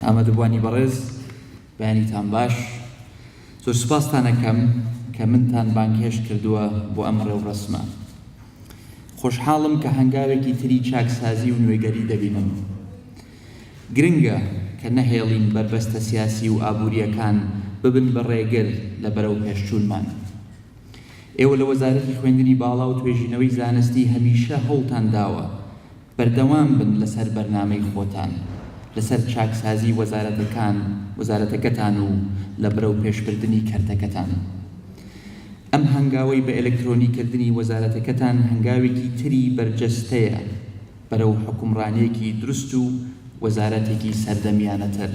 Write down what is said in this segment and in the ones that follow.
ئامادەبووانی بەڕێز بەیانیتان باش. زۆر سوپاستان ئەکەم کە منتان بانگهێشت کردووە بۆ ئەم ڕێوڕەسمە. خۆشحاڵم کە هەنگاوێکی تری چاکسازی و نوێگەری دەبینم. گرنگە کە نەهێڵین بەربەستە سیاسی و ئابوورییەکان ببن بە ڕێگر لە بەرەوپێشچوونمان. ئێوە لە وەزارەتی خوێندنی باڵا و توێژینەوەی زانستی هەمیشە هەوڵتان داوە، بەردەوام بن لەسەر بەرنامەی خۆتان لەسەر چاکسازی وەزارەتەکان وەزارەتەکەتان و لە برەو پێش بردنی کەرتەکەتان. ئەم هەنگاوەی بە ئەلکترۆنی کردنی وەزارەتەکەتان هەنگاوێکی تری بەرجەستەیە بەرەو حوکمڕانێکی دروست و وەزارەتێکی سەردەمیانەتر.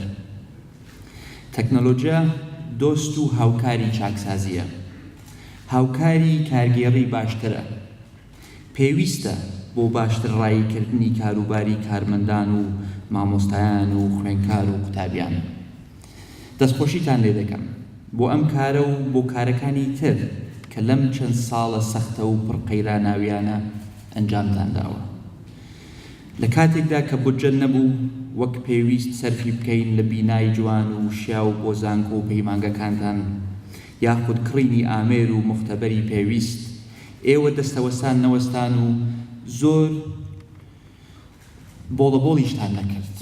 تەکنەلۆجیا دۆست و هاوکاری چاکسازیە. هاوکاری کارگێڕی باشترە پێویستە بۆ باشتر ڕایی کردنی کاروباری کارمەندان و مامۆستایان و خوێنکار و قوتابیان. دەستخۆشیتان لێ دەکەم بۆ ئەم کارە و بۆ کارەکانی تر کە لەم چەند ساڵە سەختە و پڕ قەیراناویانە ئەنجامتان داوە. لە کاتێکدا کە بودجە نەبوو وەک پێویست سەرفی بکەین لە بینای جوان و شیاو بۆ زانکۆ و پەیمانگەکانتان، یاخود کڕینی ئامێر و موختەبەری پێویست، ئێوە دەستەوەستان نەوەستان و زۆر بۆڵەبۆڵیشتان نەکرد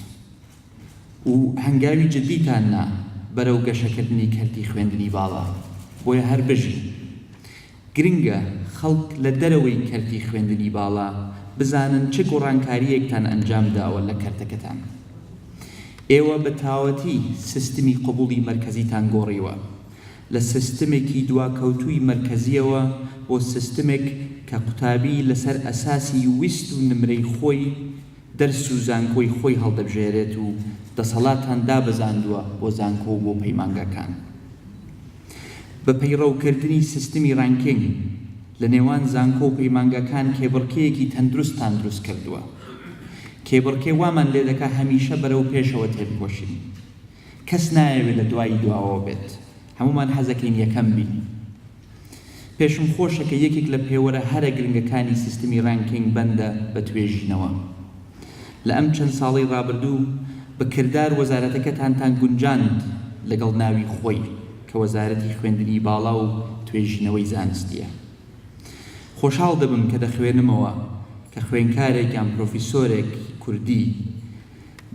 و هەنگاوی جدیتان نا بەرەو گەشەکردنی کەرتی خوێندنی باڵا، بۆیە هەر بژین. گرنگە خەڵک لە دەرەوەی کەرتی خوێندنی باڵا بزانن چ گوڕانکارییەکتان ئەنجام داوە لە کەرتەکەتان. ئێوە بە تاوەتی سیستمی قبوڵی مەرکەزیتان گۆڕیوە، لە سیستمێکی دواکەوتووی مەرکەزییەوە بۆ سیستمێک کە قوتابی لەسەر ئەساسی ویست و نمرەی خۆی دەرس و زانکۆی خۆی هەڵدەبژێرێت و دەسەڵاتان دابەزاندووە بۆ زانکۆ و بۆ پەیمانگاکان بە پەیڕەوکردنی سیستمی ڕانکینگ لە نێوان زانکۆ و پەیمانگاکان کێبڕکێیەکی تەندروستتان دروست کردووە کێبڕکێ وامان لێدەکا هەمیشە بەرەو پێشەوە تێبکۆشین. کەس نایەوێت لە دوایی دواوەوە بێت هەموومان حەزەکەین یەکەم بین پێشم خۆشە کە یەکێک لە پێوەرە هەرە گرنگەکانی سیستمی ڕانکینگ بەندە بە توێژینەوە لە ئەم چەند ساڵەی ڕابردوو بە کردار وەزارەتەکەتانتان گونجاند لەگەڵ ناوی خۆی کە وەزارەتی خوێندنی باڵا و توێژینەوەی زانستیە خۆشحاڵ دەبم کە دەخوێنمەوە کە خوێنکارێک یان پرۆفیسۆرێک کوردی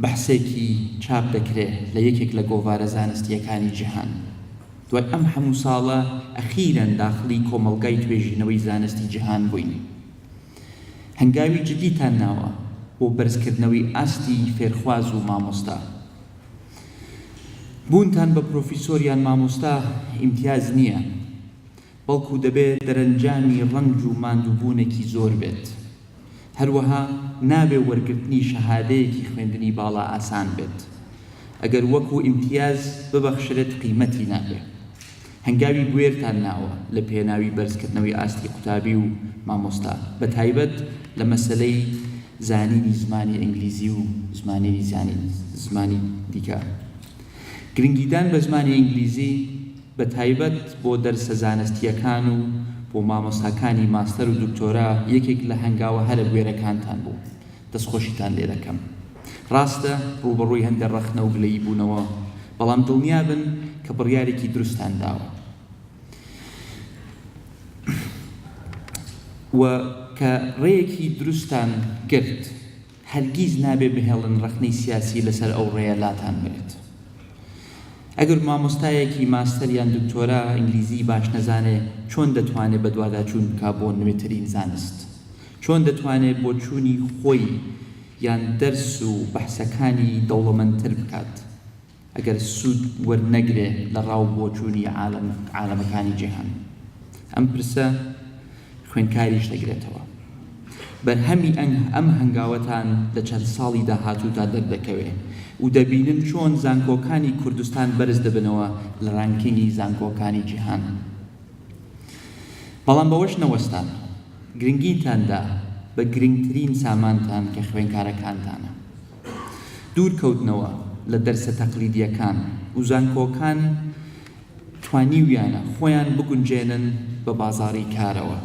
بەحسێکی چاپ دەکرێ لە یەکێک لە گۆڤارە زانستییەکانی جیهان. دوای ئەم هەموو ساڵە ئەخیرەن داخڵی کۆمەڵگای توێژینەوەی زانستی جیهان بووین. هەنگاوی جدیتان ناوە بۆ بەرزکردنەوەی ئاستی فێرخواز و مامۆستا. بوونتان بە پرۆفیسۆر یان مامۆستا ئیمتیاز نییە. بەڵکو دەبێت دەرەنجامی ڕەنج و ماندووبوونێکی زۆر بێت. هەروەها نابێت وەرگرتنی شەهادەیەکی خوێندنی باڵا ئاسان بێت. ئەگەر وەکو ئیمتیاز ببەخشرێت قیمەتی نابێت. هەنگاوی بوێرتان ناوە لە پێناوی بەرزکردنەوەی ئاستی قوتابی و مامۆستا بە تایبەت لە مەسەلەی زانینی زمانی ئینگلیزی و زمانیی زمانی دیکە. گرنگیدان بە زمانی ئینگلیزی. بە تایبەت بۆ دەرسە زانستییەکان و بۆ مامۆستاکانی ماستەر و دکتۆرا یەکێک لە هەنگاوە هەرە بوێرەکانتان بوو. دەستخۆشیتان لێ دەکەم. ڕاستە ڕووبەڕووی هەندێ ڕەخنە و گلەیی بوونەوە، بەڵام دڵنیا بن کە بڕیارێکی دروستتان داوە و کە ڕێیەکی دروستتان گرت. هەرگیز نابێ بهێڵن ڕەخنەی سیاسی لەسەر ئەو ڕێیە لاتان بەرێت. ئەگەر مامۆستایەکی ماستەر یان دکتۆرا ئینگلیزیی باش نەزانێ چۆن دەتوانێ بەدواداچوون بکا بۆ نوێترین زانست؟ چۆن دەتوانێ بۆچوونی خۆی یان دەرس و بەحسەکانی دەوڵەمەندتر بکات؟ ئەگەر سوود وەرنەگرێ لە ڕا و بۆچوونی عالەم عالەمەکانی جیهان؟ ئەم پرسە خوێنکاریش دەگرێتەوە. بەرهەمی ئەنگ ئەم هەنگاوەتان لە چەند ساڵی داهاتوودا دەردەکەوێ و دەبینن چۆن زانکۆکانی کوردستان بەرز دەبنەوە لە ڕانکینگی زانکۆکانی جیهان. بەڵام بەوەش نەوەستان. گرنگیتان دا بە گرنگترین سامانتان کە خوێنکارەکانتانە. دوور کەوتنەوە لە دەرسە تەقلیدییەکان و زانکۆکان توانیویانە خۆیان بگونجێنن بە بازاڕی کارەوە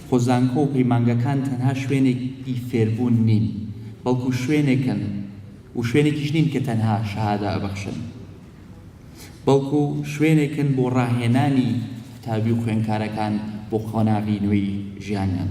خۆ زانکۆ و پەیمانگەکان تەنها شوێنێکی فێربوون نین بەڵکو شوێنێکن و شوێنێکیش نین کە تەنها شەهادە ئەبەخشن بەڵکو شوێنێکن بۆ ڕاهێنانی قوتابی و خوێنکارەکان بۆ قۆناغی نوێی ژیانیان.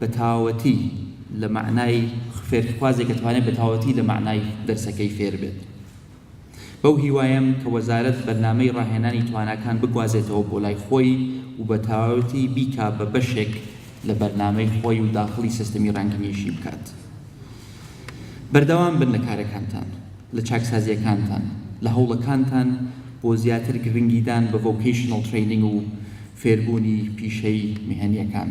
بەتاوەتی لە مەعنای فێرخوازێک ئەتوانێت بەتاوەتی لە مەعنای دەرسەکەی فێر بێت بەو هیوایەم کە وەزارەت بەرنامەی ڕاهێنانی تواناکان بگوازێتەوە بۆ لای خۆی و بەتاوەتی بیکا بە بەشێک لە بەرنامەی خۆی و داخڵی سیستمی ڕەنگینیشی بکات بەردەوام بن لە کارەکانتان لە چاکسازیەکانتان لە هەوڵەکانتان بۆ زیاتر گرنگیدان بە ڤۆکەیشنەڵ ترەینینگ و فێربوونی پیشەی میهەنیەکان.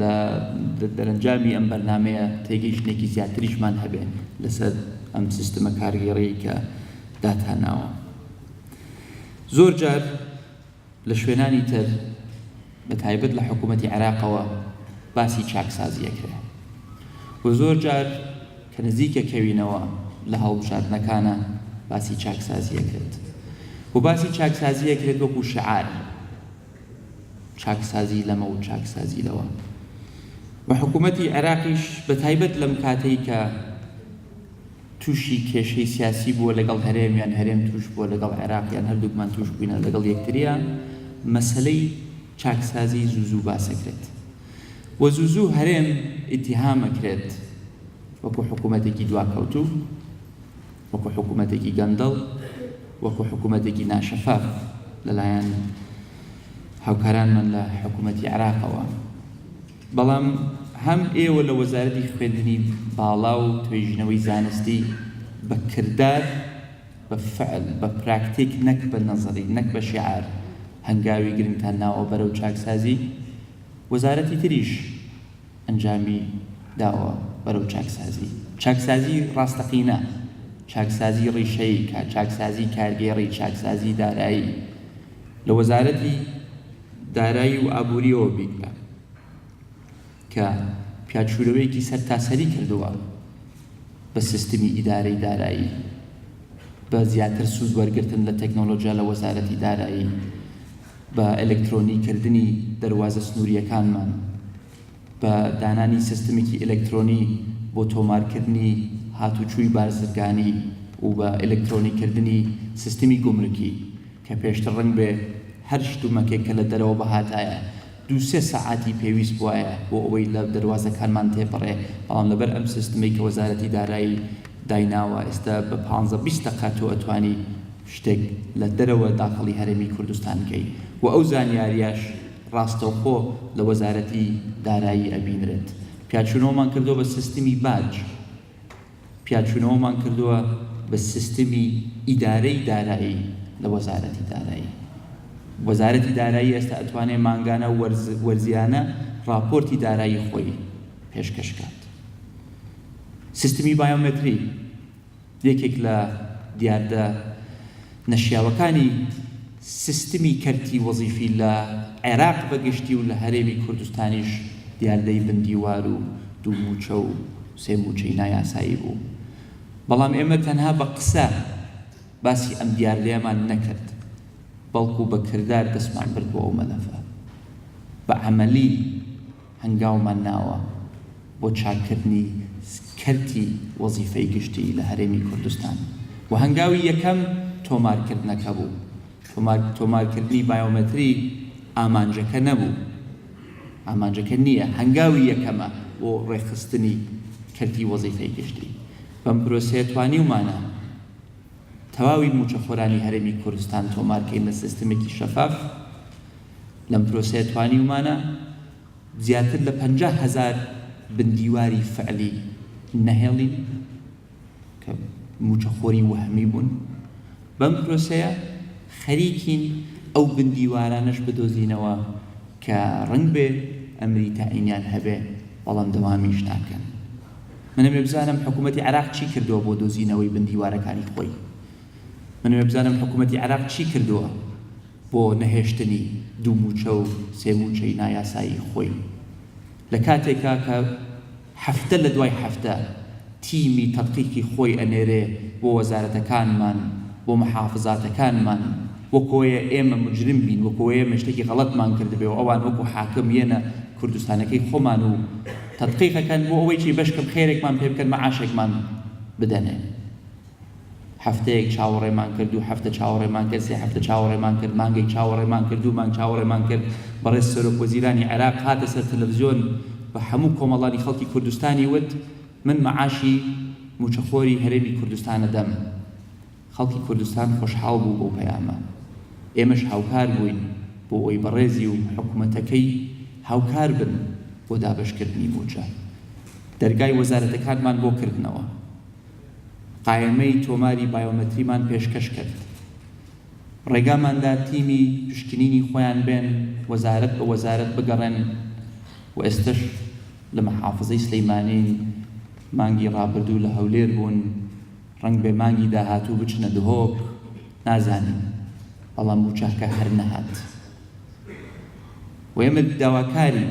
لە دەرەنجامی ئەم بەرنامەیە تێگەیشتنێکی زیاتریشمان هەبێ لەسەر ئەم سیستمە کارگێڕی کە داتاناوە زۆر جار لە شوێنانی تر بە تایبەت لە حکوومەتتی عێراقەوە باسی چاکسازیەکرێ و زۆر جار کە نزیکە کەوینەوە لە هەڵبژاردنەکانە باسی چاکسازیەکرێت و باسی چاکسازیەکرێت وەکو شعار چاکسازی لەمە و چاکسازی لەوە و حکوومەتی عێراقیش بە تایبەت لەم کاتەی کە تووشی کێشەی سیاسی بووە لەگەڵ هەرێمیان هەرێم توش بووە لەگەڵ عێراقیان هەردووکمان توش بووینە لەگەڵ یەکتریان مەسلەی چاکسازی زوزوو باسەکرێت و زوزوو هەرێم ئیتیهامەکرێت وەکو حکوومەتێکی دواکەوتوو وەکو حکومەتێکی گەندەڵ، وەکو حکومەتێکی ناشەفاف لەلایەن هاوکارانمان لە حکومەتی عێراقەوە. بەڵام هەم ئێوە لە وەزارەتی خوێندنی باڵا و توێژینەوەی زانستی بە کردار، بە فعل، بە پراکتیک نەک بە نەزەری، نەک بە شیعار هەنگاوی گرنگتان ناوە بەرەو چاکسازی، وەزارەتی تریش، ئەنجامی داوە بەرەو چاکسازی، چاکسازی ڕاستەقینە، چاکسازی ڕیشەیی، کە چاکسازی کارگێڕی، چاکسازی دارایی لە وەزارەتی دارایی و ئابوورییەوە بیکە، کە پیادشوورەوەیەکی سەرتاسەری کردووە بە سیستمی ئیدارەی دارایی، بە زیاتر سوود وەرگرتن لە تەکنۆلۆجیا لە وەزارەتی دارایی. بە ئەلکترۆنی کردنی دەروازە سنوورییەکانمان، بە دانانی سیستمێکی ئەلکترۆنی بۆ تۆمارکردنی هاتووچووی بازرگانی و بە ئەلکترۆنی کردنی سیستمی گومرکی کە پێشتر ڕەنگ بێ هەر شتومەکێک کە لە دەرەوە بهاتایە دوو سێ سەعاتی پێویست بوایە بۆ ئەوەی لە دەروازەکانمان تێپەڕێ بەڵام لەبەر ئەم سیستمەی کە وەزارەتی دارایی دایناوە ئێستا بە پانزە بیست دەقە تۆ ئەتوانی شتێک لە دەرەوە داخڵی هەرێمی کوردستان کەی و ئەو زانیاریەش ڕاستەوخۆ لە وەزارەتی دارایی ئەبینرێت پیاچونەوەمان کردوە بە سیستمی باج پیاچونەوەمان کردوە بە سیستمی ئیدارەی دارایی لە وەزارەتی دارایی وەزارەتی دارایی ئێستا ئەتوانێ مانگانە وەرز وەرزیانە ڕاپۆرتی دارایی خۆی پێشکەش کات سیستمی بایۆمەتری یەکێک لە دیاردە نەشیاوەکانی سیستمی کەرتی وەزیفی لە عێراق بە گشتی و لە هەرێمی کوردستانیش دیاردەی بن دیوار و دوو مووچە و سێ مووچەی نایاسایی بوو، بەڵام ئێمە تەنها بە قسە باسی ئەم دیاردەیەمان نەکرد، بەڵکو بە کردار دەستمان برد بۆ ئەو مەلەفە، بە عەمەلی. هەنگاومان ناوە بۆ چاککردنی کەرتی وەزیفەی گشتی لە هەرێمی کوردستان و هەنگاوی یەکەم تۆمارکردنەکە بوو، تۆمارکردنی بایۆمەتری ئامانجەکە نەبوو، ئامانجەکە نییە، هەنگاوی یەکەمە بۆ ڕێکخستنی کەرتی وەزیفەی گشتی، بەم پرۆسەیە توانیومانە تەواوی مووچەخۆرانی هەرێمی کوردستان تۆمارکەین لە سیستمێکی شەفاف. لەم پرۆسەیە توانیومانە زیاتر لە پەنجا هەزار بندیواری فعلی نەهێڵین کە موچەخۆری وەهمی بوون بەم پرۆسەیە خەریکین ئەو بندیوارانەش بدۆزینەوە کە ڕنگ بێ ئەمری تاعینیان هەبێ بەڵام دەوامیش ناکەن منم بزانم حکوومەتی عراق چی کردووە بۆ دۆزینەوەی بندیوارەکانی خۆی من ئەوێ بزانم حکومەتی عێراق چی کردووە بۆ نەهێشتنی دوو مووچە و سێ مووچەی نایاسایی خۆی لە کاتێکا کە هەفتە لە دوای هەفتە تیمی تەدقیقی خۆی ئەنێرێ بۆ وەزارەتەکانمان بۆ محافزاتەکانمان وەکۆیە ئێمە مجرم بین وەکۆیە ئێمە شتێکی غەڵەتمان کردبێ و ئەوان وەکو حاکم یەنە کوردستانەکەی خۆمان و تەدقیقەکەن بۆ ئەوەی چی بەشکەم خێرێکمان پێ بکەن مەعاشێکمان بدەنێ. هەفتەیەک چاوەڕێمان کرد، دوو هەفتە چاوەڕێمان کرد، سێ هەفتە چاوەڕێمان کرد، مانگێک چاوەڕێمان کرد، دوو مانگ چاوەڕێمان کرد، بەڕێز سەرۆک وەزیرانی عێراق هاتە سەر تەلەفزیۆن بە هەموو کۆمەڵانی خەڵکی کوردستانی وت، من مەعاشی مووچەخۆری هەرێمی کوردستان ئەدەم. خەڵکی کوردستان خۆشحاڵ بوو بەو پەیامە. ئێمەش هاوکار بووین بۆ ئەوەی بەڕێزی و حکومەتەکەی هاوکار بن بۆ دابەشکردنی مووچە. دەرگای وەزارەتەکانمان بۆ کردنەوە. قایمەی تۆماری بایۆمەتریمان پێشکەش کرد، ڕێگاماندا تیمی پشکنینی خۆیان بێن وەزارەت بە وەزارەت بگەڕێن و ئێستەش لە مەحافزەی سلەیمانین، مانگی ڕابردوو لە هەولێر بوون، ڕەنگبێ مانگی داهاتوو بچنە دهۆک، نازانین، بەڵام مووچەکە هەر نەهات و ئێمە داواکارین.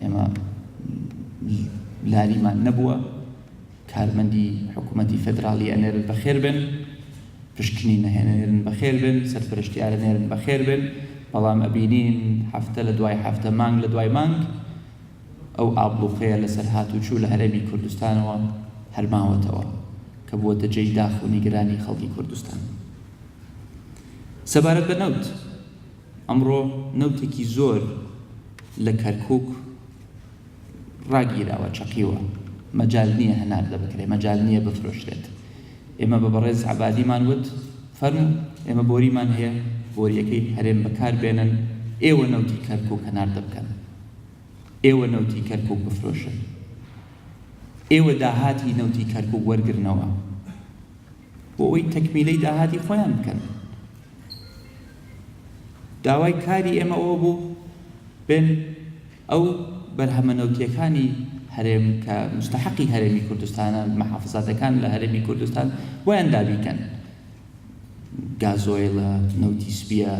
ئێمە لاریمان نەبووە، کارمەندی حکوومەتی فێدراڵی ئەنێرن بەخێر بێن، پشکنی نەهێنێرن بەخێر بێن، سەرپەرشتیارە نێرن بەخێر بێن، بەڵام ئەبینین هەفتە لە دوای هەفتە، مانگ لە دوای مانگ ئەو ئابڵووقەیە لەسەر هاتووچوو لە هەرێمی کوردستانەوە هەر ماوەتەوە کە بووەتە جێی داخ و نیگەرانی خەڵکی کوردستان. سەبارەت بە نەوت، ئەمڕۆ نەوتێکی زۆر لە کەرکوک ڕاگیراوە، چەقیوە، مەجال نییە هەناردە بکرێت، مەجال نییە بفرۆشرێت. ئێمە بە بەڕێز عەبادیمان وت، فەرموو، ئێمە بۆریمان هەیە، بۆرییەکەی هەرێم بەکار بێنن، ئێوە نەوتی کەرکوک هەناردە بکەن، ئێوە نەوتی کەرکوک بفرۆشن، ئێوە داهاتی نەوتی کەرکوک وەرگرنەوە. بۆ ئەوەی تەکمیلەی داهاتی خۆیان بکەن داوای کاری ئێمە ئەوە بوو بێن ئەو بەرهەمە نەوتیەکانی هەرێم کە مستحقی هەرێمی کوردستانە محافزاتەکان لە هەرێمی کوردستان بۆیان دابیکەن گازۆیلە نەوتی سپیە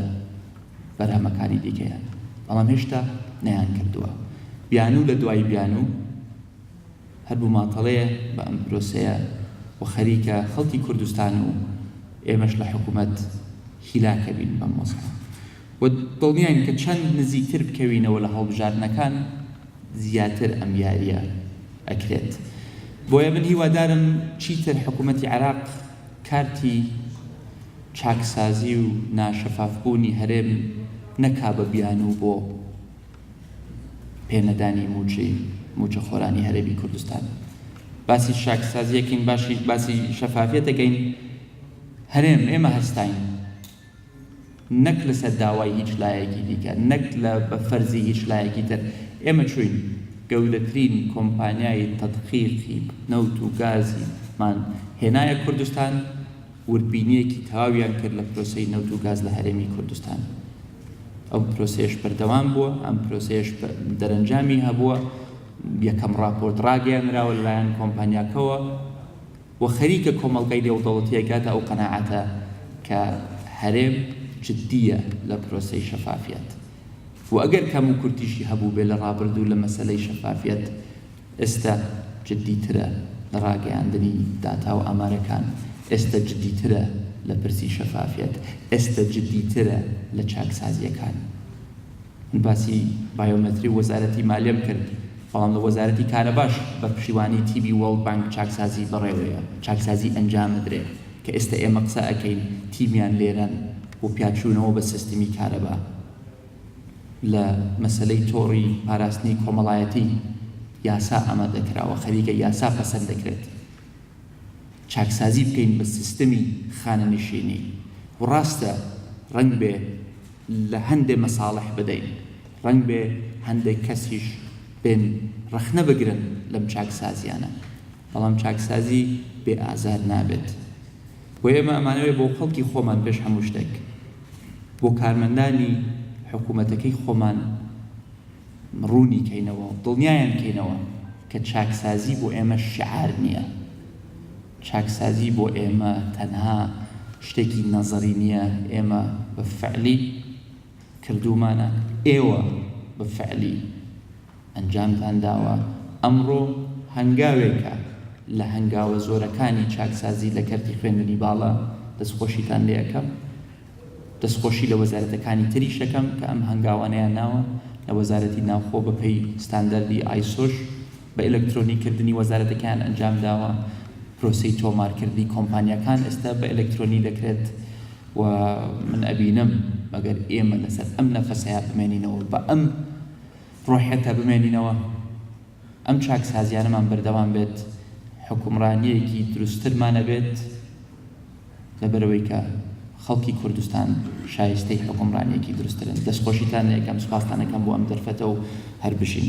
بەرهەمەکانی دیکەیان بەڵام هێشتا نەیان کردووە بیانوو لە دوای بیانوو هەر بوماتەڵەیە بە ئەم پرۆسەیە و خەریکە خەڵکی کوردستان و ئێمەش لە حکومەت هیلاک ئەبین بەم وەزعە و دڵنیاین کە چەند نزیکتر بکەوینەوە لە هەڵبژاردنەکان زیاتر ئەم یاریە ئەکرێت بۆیە من هیوادارم چیتر حکومەتی عێراق کارتی چاکسازی و ناشەفافبوونی هەرێم نەکا بە بیانوو بۆ پێنەدانی مووچەی مووچەخۆرانی هەرێمی کوردستان باسی شاکسازیەکەین باشی باسی شەفافیەتەکەین هەرێم ئێمە هەستین نەک لەسەر داوای هیچ لایەکی دیکە نەک لە بەفەرزی هیچ لایەکی تر ئێمە چوین گەورەترین کۆمپانیای تەدقیقی نەوت و گازیمان هێنایە کوردستان وردبینیەکی تەواویان کرد لە پرۆسەی نەوت و گاز لە هەرێمی کوردستان. ئەو پرۆسەیەش بەردەوام بووە، ئەم پرۆسەیەش دەرەنجامی هەبووە، یەکەم ڕاپۆرت ڕاگەیەنراوە لەلایەن کۆمپانیاکەوە و خەریکە کۆمەڵگای نێودەوڵەتییە گاتە ئەو قەناعەتە کە هەرێم جددییە لە پرۆسەی شەفافیەت و ئەگەر کەموکورتیشی هەبووبێ لە ڕابردوو لە مەسەلەی شەفافیەت، ئێستا جدیترە لە ڕاگەیاندنی داتا و ئامارەکان، ئێستا جدیترە لە پرسی شەفافیەت، ئێستا جدیترە لە چاکسازییەکان. من باسی بایۆمەتری و وەزارەتی مالیەم کرد، بەڵام لە وەزارەتی کارەباش بە پشتیوانی تیمی وۆرڵد بانک چاکسازی بەڕێوەیە، چاکسازی ئەنجامدرێ، کە ئێستا ئێمە قسە ئەکەین تیمیان لێرەن بۆ پیاچوونەوە بە سیستمی کارەبا. لە مەسەلەی تۆڕی پاراستنی کۆمەڵایەتی یاسا ئامادەکراوە خەریکە یاسا پەسەند دەکرێت چاکسازی بکەین بە سیستمی خانەنشینی و ڕاستە ڕەنگ بێ لە هەندێ مەساڵح بدەین ڕەنگ بێ هەندێک کەسیش بێن ڕەخنە بگرن لەم چاکسازیانە بەڵام چاکسازی بێ ئازار نابێت و ئێمە ئەمانەوێت بۆ خەڵکی خۆمان پێش هەموو شتێک بۆ کارمەندانی حکوومەتەکەی خۆمان ڕوونی کەینەوە و دڵنیایان کەینەوە کە چاکسازی بۆ ئێمە شعار نییە چاکسازی بۆ ئێمە تەنها شتێکی نەزەری نییە ئێمە بە فعلی کردومانە ئێوە بە فعلی ئەنجامتان داوە، ئەمڕۆ هەنگاوێکە لە هەنگاوە زۆرەکانی چاکسازی لە کەرتی خوێندنی باڵا، دەستخۆشیتان لێ ئەکەم، دەستخۆشی لە وەزارەتەکانی تریش ئەکەم کە ئەم هەنگاوانەیان ناوە، لە وەزارەتی ناوخۆ بە پێی ستانداردی ئایسۆش بە ئێلکترۆنی کردنی وەزارەتەکەیان ئەنجام داوە، پرۆسەی تۆمارکردنی کۆمپانیاکان ئێستا بە ئێلکترۆنی دەکرێت و من ئەبینم ئەگەر ئێمە لەسەر ئەم نەفەسەیا بمێنینەوە بە ئەم ڕۆحێکە بمێنینەوە ئەم چاکسازیانەمان بەردەوام بێت حوکمڕانیەکی دروسترمان ئەبێت لەبەرەوەی کە خەڵکی کوردستان شایستەی حوکمڕانیەکی دروسترن دەستخۆشیتان لەکەم سپاستانەکەم بۆ ئەم دەرفەتە و هەر بژین.